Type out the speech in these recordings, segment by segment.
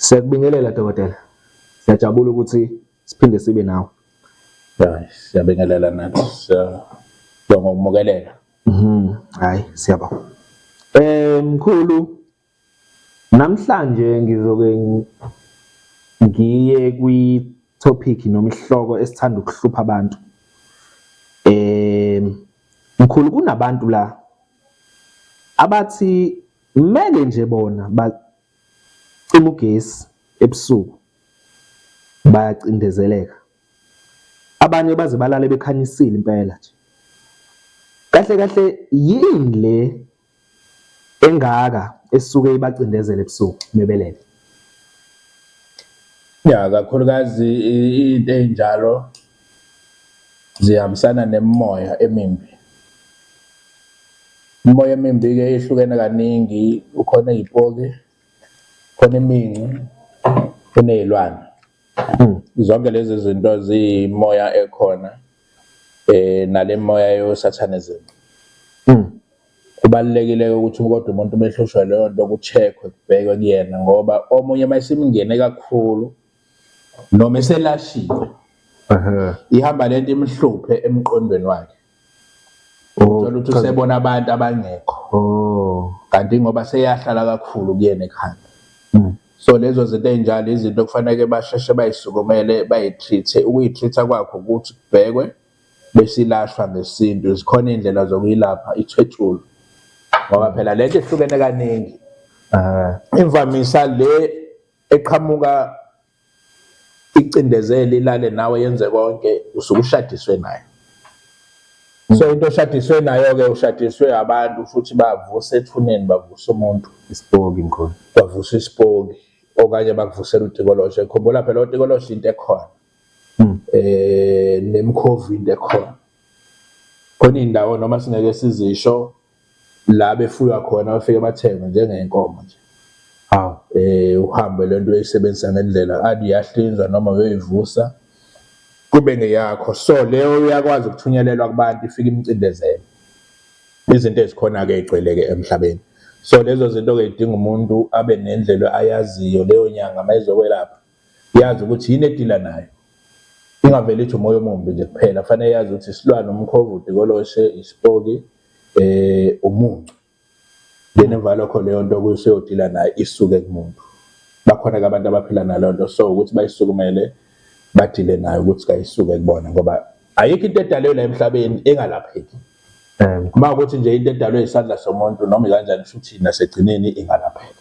Siyakubingelela dokotela. Siyajabula ukuthi siphinde sibe nawe. Hayi, siyabingelela nathi. Siyabonga ukumukelela. Mhm. Hayi, siyabonga. Eh mkhulu, Namhlanje ngizoke ngiye kwi-topic noma isihloko esithanda ukuhlupha abantu. Um mkhulu kunabantu la abathi kumele nje bona bacima ugesi ebusuku bayacindezeleka. Abanye baze balale bekhanyisile impela nje. Kahle kahle yini le engaka esuke ibacindezela ebusuku mebelele. Ya kakhulukazi into ezinjalo zihambisana nemimoya emimbi. Imimoya emimbi ke ihlukene kaningi ukhona izipoki khona iminci kunezilwane hmm. zonke lezi zinto ziyimoya ekhona eh nalemoya yosathanism hmm. kubalekile ukuthi kodwa umuntu umehlushwa leyo nto kucheckwe kubhekwe kuyena ngoba omunye mayisimngene kakhulu noma eselashiwe ihamba lento imhluphe emqondweni wakhe Oh, Thola ukuthi usebona abantu abangekho. Oh. Kanti ngoba seyahlala kakhulu kuyena ekhanda. Mm. So lezo zinto ezinjalo izinto okufanele basheshe bayisukumele bayitreathe. Ukuyitreatha kwakho ukuthi kubhekwe besilashwa ngesintu. Zikhona indlela zokuyilapha ithwetshulu. Ngoba mm. phela lento ihlukene kaningi. Ah. Imvamisa le eqhamuka icindezeli ilale nawe yenze konke usuke ushadiswe nayo so into oshadiswe nayo-ke ushadiswe abantu futhi bavuse ethuneni bavuse umuntu isipoki mkhulu bavuse isipoki okanye bakuvusela utikoloshe khumbula phela otikoloshe into ekhona um nemkhovi into ekhona khona iy'ndawo noma singeke sizisho la befuywa khona bafike bathengwe njengey'nkomo nje hawu um uhambe le nto uyayisebenzisa ngendlela ade uyahlinzwa noma uyoyivusa kube ngeyakho so leyo uyakwazi ukuthunyelelwa kubantu ifike imcindezele izinto ezikhona-ke ey'gcwele-ke emhlabeni so lezo zinto-ke zidinga umuntu abe nendlela ayaziyo leyo nyanga uma izokwelapha Yazi ukuthi yini edila nayo. Ingavele ithi umoya omumbi nje kuphela. Kufanele yazi ukuthi isilwane, umkhovu, udikoloshe, isipoki, eh umuncu. Then emva lokho leyo nto kuseyodila nayo isuke kumuntu. Bakhona-ke abantu abaphila naleyo nto so ukuthi bayisukumele badile nayo ukuthi kayisuke kubona ngoba ayikho into edalwe la emhlabeni engalapheki. Uma ukuthi nje into edalwe isandla somuntu noma ikanjani futhi nasekugcineni ingalapheka.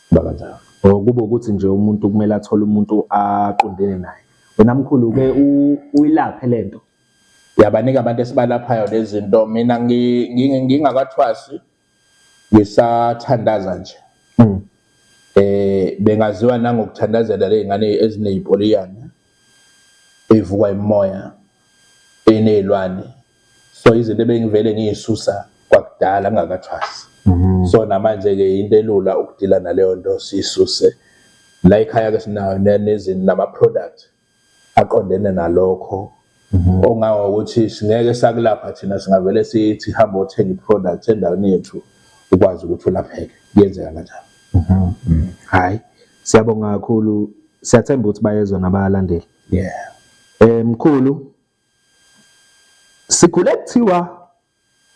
Kuba kanjalo. Or kube ukuthi nje umuntu kumele athole umuntu aqondene naye. Wena mkhulu uke uyilaphe lento. Yabanika abantu esibalaphayo lezinto mina ngingakathwasi ngisathandaza nje. Mm. Eh bengaziwa nangokuthandazela lezingane ezinezipoliyana evukwa imoya enezilwane so izinto ebengivele ngiyisusa kwakudala ngingakathwasi mhm. so namanje ke into elula ukudila naleyo nto sisuse la ekhaya ke sinayo nezinto nama product aqondene nalokho mhm. ongawa ukuthi singeke sakulapha thina singavele sithi hamba othenga iproduct endaweni yethu ukwazi ukuthi ulapheke kuyenzeka kanjalo mhm. mm. hayi siyabonga kakhulu siyathemba ukuthi bayezwa nabalandeli yeah eh mkhulu Sikhule kuthiwa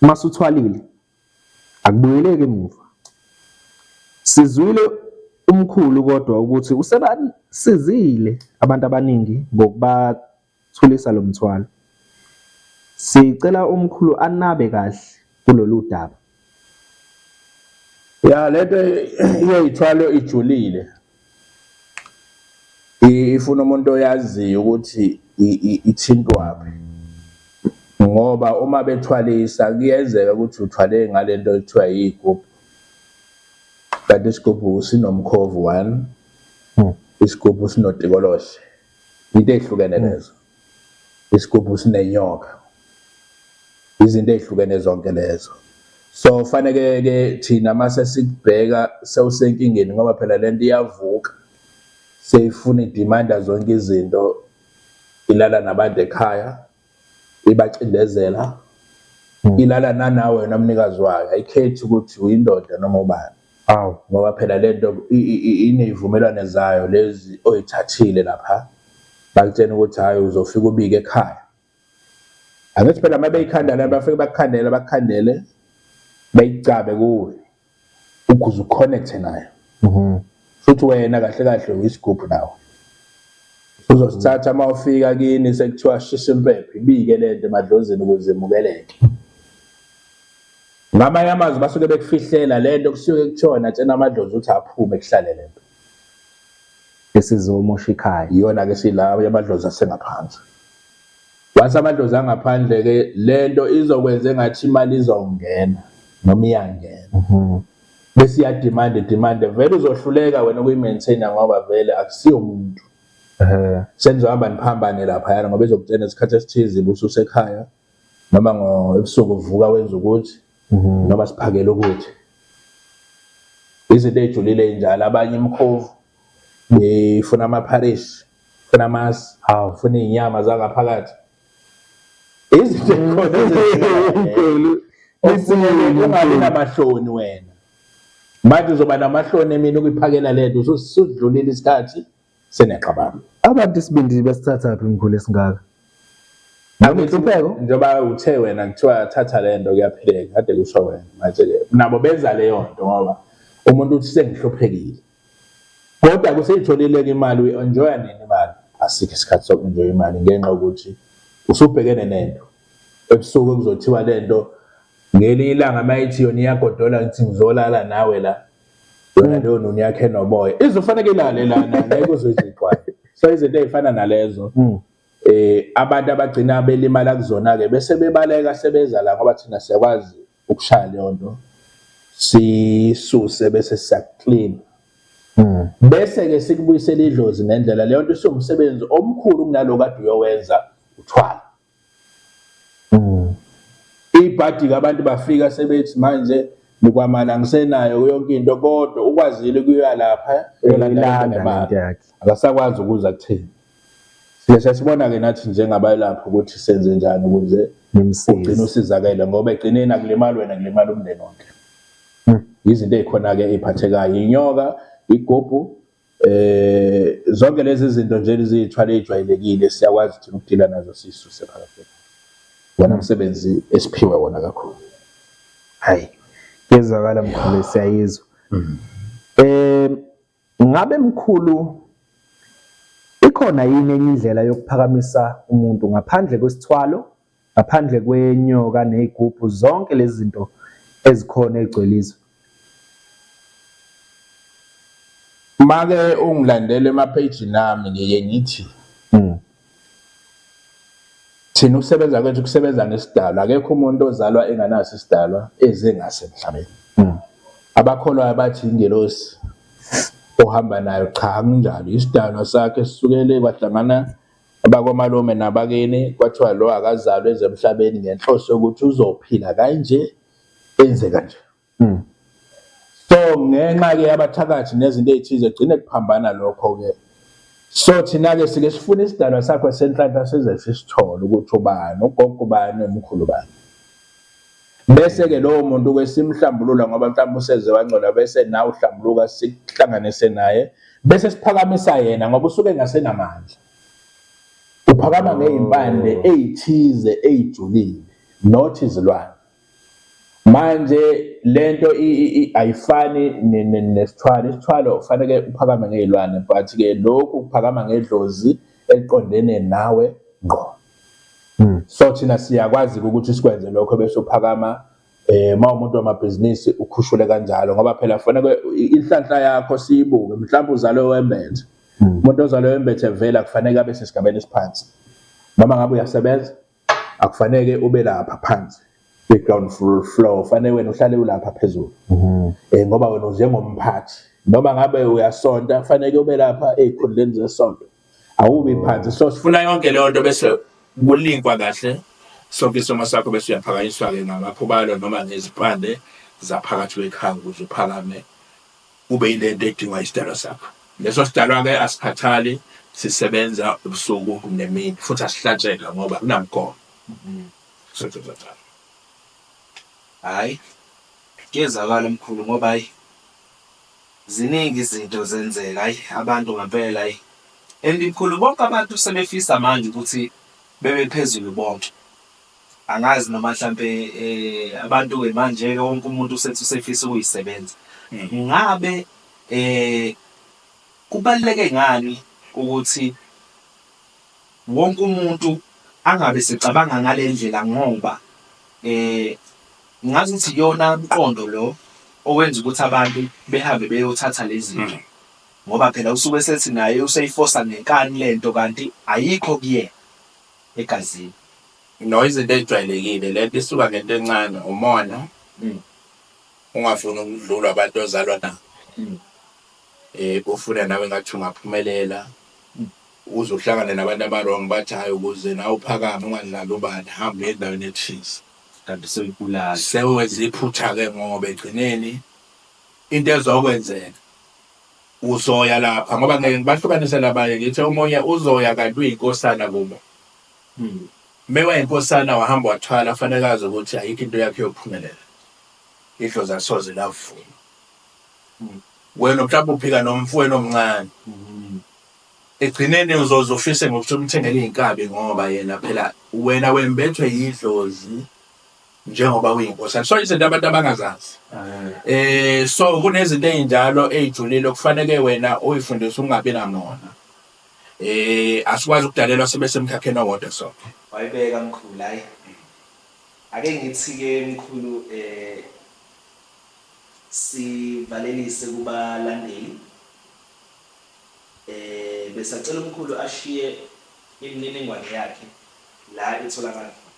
masuthwalile akubuyeleki emuva. Sizwile umkhulu kodwa ukuthi usebasizile abantu abaningi ngokubathulisa lo mthwalo. Sicela umkhulu anabe kahle kulolu daba. ya lento iyayithwalo ijulile ifuna umuntu oyaziyo ukuthi ithintwaphi ngoba uma bethwalisa kuyenzeka ukuthi uthwale ngalento ekuthiwa yigubhu kanti isigubhu sinomkhovu one hmm. isigubhu sinotikolohle into ehlukene hmm. lezo isigubhu sinenyoka izinto ezihlukene zonke lezo so faneke ke thina mase sikubheka sewusenkingeni ngoba phela lento iyavuka seyifuna idimanda zonke izinto ilala nabantu ekhaya ibacindezela ilala nanawe wena mnikazi wayo ayikhethi ukuthi uyindoda noma ubani Aw ngoba phela lento ineyvumelwane zayo lezi oyithathile lapha bakutshena ukuthi hayi uzofika ubike ekhaya angithi phela uma beyikhandela bafike bakukhandele bakukhandele bayicabe kuwe ukuze uconnecte nayo mhm. futhi wena kahle kahle uyisigubhu nawe uzosithatha uma ufika kini sekuthiwa shisa impepho ibike lento emadlozini ukuze imukeleke Ngamanye amazwi basuke bekufihlela lento kusuke kuthona tshena amadlozi ukuthi aphume kuhlale lento. Esizomosha ikhaya. Iyona ke silawo yamadlozi asengaphansi. Wase amadlozi angaphandle ke lento izokwenza engathi imali izongena noma iyangena. Mhm. Bese iya demand demand vele uzohluleka wena ukuyi maintain ngoba vele akusiyo umuntu. Eh. Senizohamba niphambane lapha yana ngoba izokutshena isikhathi esithize ubususekhaya. noma ngo ebusuku uvuka wenza ukuthi mhm. noma siphakele ukuthi izinto ejulile njalo abanye imkhovu ifuna amapharish funa amasi hawu funa izinyama zangaphakathi izinto ekhona ezinkulu ungabi namahloni wena manje uzoba namahloni emini ukuyiphakela lento ususudlulile isikhathi senexabano. Abantu isibindi basithathaphi mkhulu esingaka? Noma inhlupheko njengoba uthe wena kuthiwa thatha le nto kuyaphileka kade kusho wena manje-ke nabo benza leyo nto ngoba umuntu uthi sengihluphekile kodwa kuseyitholile-ke imali uyi-enjoya nini imali asikho isikhathi soku-enjoya imali ngenxa yokuthi usubhekene nento ebusuku kuzothiwa le nto ngelinye ilanga uma ithi yona iyagodola ngithi ngizolala nawe la yona leyo noni yakhe noboya izofaneke ilale lana ngeke uzoyizixwaye so izinto ezifana nalezo hmm. eh abantu abagcina belimala kuzona ke bese bebaleka sebeza la ngoba thina siyakwazi ukushaya leyo nto sisuse bese siyaclean hmm. bese ke sikubuyisela idlozi ngendlela leyo nto isumsebenzi omkhulu kunaloko kade uyowenza uthwala Mm. Ibhadi abantu bafika sebethi manje nikwamana ngisenayo yonke into kodwa ukwazile kuya lapha eyolanda akasakwazi ukuza kuthini siyesha sibona-ke nathi njengabalapha ukuthi senze njani ukuze ugcine usizakele ngoba egcineni akulimali wena kulimala umndeni wonke hmm. izinto ey'khona-ke ey'phathekayo inyoka igubhu Eh zonke lezi zinto nje eziyithwala ejwayelekile siyakwazi ukuthi ukudila nazo sisuse phakathi. Wona umsebenzi esiphiwe wona kakhulu. Hayi. Yezwakala mkhulu siyayizwa. Mm. Eh ngabe mkhulu ikhona yini enye indlela yokuphakamisa umuntu ngaphandle kwesithwalo Ngaphandle kwenyoka ney'gubhu zonke lezi zinto ezikhona ey'gcwele izwe. Make ungilandele ema-page nami ngiye ngithi hmm. thina ukusebenza kwethu kusebenza ngesidalwa akekho umuntu ozalwa enganaso isidalwa eze ngaso emhlabeni hmm. abakholwayo bathi ingelosi ohamba nayo cha kunjalo isidalwa sakhe sisukele kwahlangana AbakwaMalume nabakini kwathiwa lo akazalwe eze emhlabeni ngenhloso yokuthi uzophila kanje enze kanje. Mm. So ngenxa ke abathakathi nezinto ezithize gcine kuphambana lokho ke. So thina ke sike sifuna isidalwa sakho senhlanhla size sisithole ukuthi ubani, ugogo ubani, umkhulu ubani. Bese-ke lowo muntu-ke simhlambulula ngoba mhlawumbe useze wangcola bese nawe uhlambuluka sikuhlanganise naye bese siphakamisa yena ngoba usuke engasenamandla. Uphakama ngey'mpande oh. ey'thize ey'julile not izilwane. Manje lento ayifani nesithwalo, isithwalo kufaneke uphakame ngey'lwane but-ke lokhu kuphakama ngedlozi eliqondene nawe ngqo. Hmm. So thina siyakwazi-ke ukuthi sikwenze lokho bese uphakama eh uma umuntu wamabhizinisi ukhushule kanjalo ngoba phela kufanele inhlanhla yakho siyibuke mhlawumbe uzalwe wembethe hmm. umuntu ozalwe wembethe vele akufanele abe sesigabeni esiphansi noma ngabe uyasebenza akufanele ube lapha phansi kwi-ground floor fanele wena uhlale ulapha phezulu um ngoba wena unjengomphathi noma ngabe uyasonta fanele ube lapha ey'khundleni zesonto awumi phansi so sifuna yonke leyo nto bese kulinkwa kahle sonke isomo sakho bese uyaphakanyiswa ke ngamakhubalo noma ngezipande zaphakathi kwekhaya ukuze uphakame ube yilento edingwa isidalwa sakho leso sidalwa ke asikhathali sisebenza ubusuku nemini futhi asihlatsheka ngoba kunamgomo hayi kuyezakala mkhulu ngoba hayi Ziningi izinto zenzeka ayi abantu ngampela ayi and mkhulu bonke abantu sebefisa manje ukuthi bebe phezulu bonke angazi noma mhlampe eh abantu ke manje ke wonke umuntu usethi usefisa ukuyisebenza mm. ngabe eh kubaluleke ngani ukuthi Wonke umuntu angabe esecabanga ngale ndlela ngoba ngazi ukuthi iyona mqondo lo owenza ukuthi abantu behambe beyothatha le zinto ngoba phela usuke esethi naye useyifosa ngenkani le nto kanti ayikho kuyena egazini. No, izinto ezijwayelekile. Le nto isuka ngento encane, umona, ungafuni ukudlulwa abantu ozalwa nabo, ufune nawe engathi ungaphumelela. Ukuze uhlangane nabantu abawrong bathi hhayi ukuze nawe uphakame ungadlali ubani hamba uye endaweni ethize. Kanti sewubulala. Sewenze iphutha ke ngoba egcineni into ezokwenzeka uzoya lapha ngoba ngeke ngibahlukanise labanye ngithe omunye uzoya kanti uyinkosana kubo. Mewayinkosana wahamba wathwala kufanele azi ukuthi ayikho into yakho eyophumelela. Idlozi alisoze lavuma. Wena mhlawumbe uphika nomfowenu omncane. Ekugcineni uzoze ufise ngokuthi umthengele iy'nkabi ngoba yena phela wena wembethwe yidlozi njengoba uyinkosana. So izinto abantu abangazazi. Eh so kunezinto ezinjalo ezijulile okufanele wena uyifundise ungabi namona. Eh asikwazi ukudalelwa sibe semkhakheni owodwa sonke. Wayibeka mkhulu hayi. Ake ngithi ke mkhulu eh sivalelise kubalandeli. Besacela umkhulu ashiye imininingwane yakhe la itholakala khona.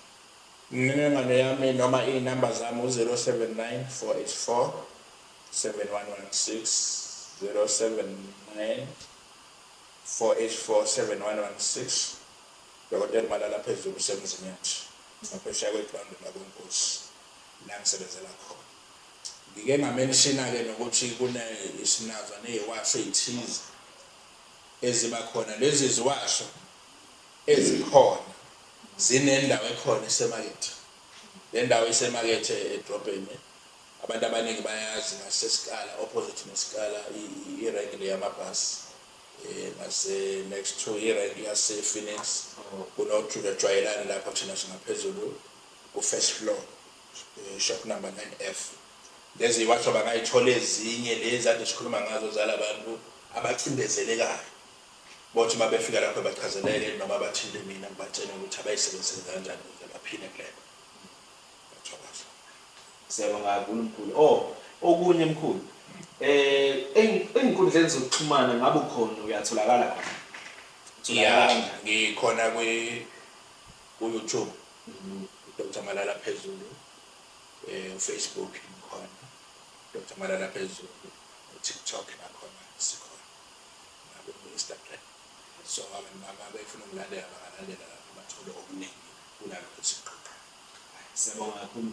Imininingwane yami noma izinamba zami u 0794847116 0794847116 Dokotela uMalala phezulu useMzinyathi ngaphesheya kweGrawundi lakoNkosi la ngisebenzela khona. Ngike nga mention ke nokuthi kune sinazo neziwasho ezithize eziba khona lezi ziwasho ezikhona zinendawo ekhona esemakethe lendawo isemakethe edrobheni abantu abaningi bayazi ngasesikala opposite nesikala irank le yamabhasi eh, ngase next to irank yase Phoenix oh. kunojwayelani lapha thina singaphezulu ku first floor shop number 9F lezi iwasho bangayithola ezinye lezi ade sikhuluma ngazo zalabantu abacindezelekayo bothi uma befika lapho bachazeleke noma bathinte mina ngibatshene ukuthi abayisebenzise kanjani ukuze baphile kulelo ngiyathokoza siyabonga kakhulu mkhulu o oh, okunye mkhulu eh ezinkundleni zokuxhumana ngabe ukhona uyatholakala khona ngikhona kwi ku-youtube Doctor Malala Phezulu eh Facebook ngikhona Doctor Malala Phezulu TikTok nakhona sikhona naku Instagram so abantu mama befuna ukulandela bangalandela lapho bathole okuningi kunalokho siqoqa siyabonga kakhulu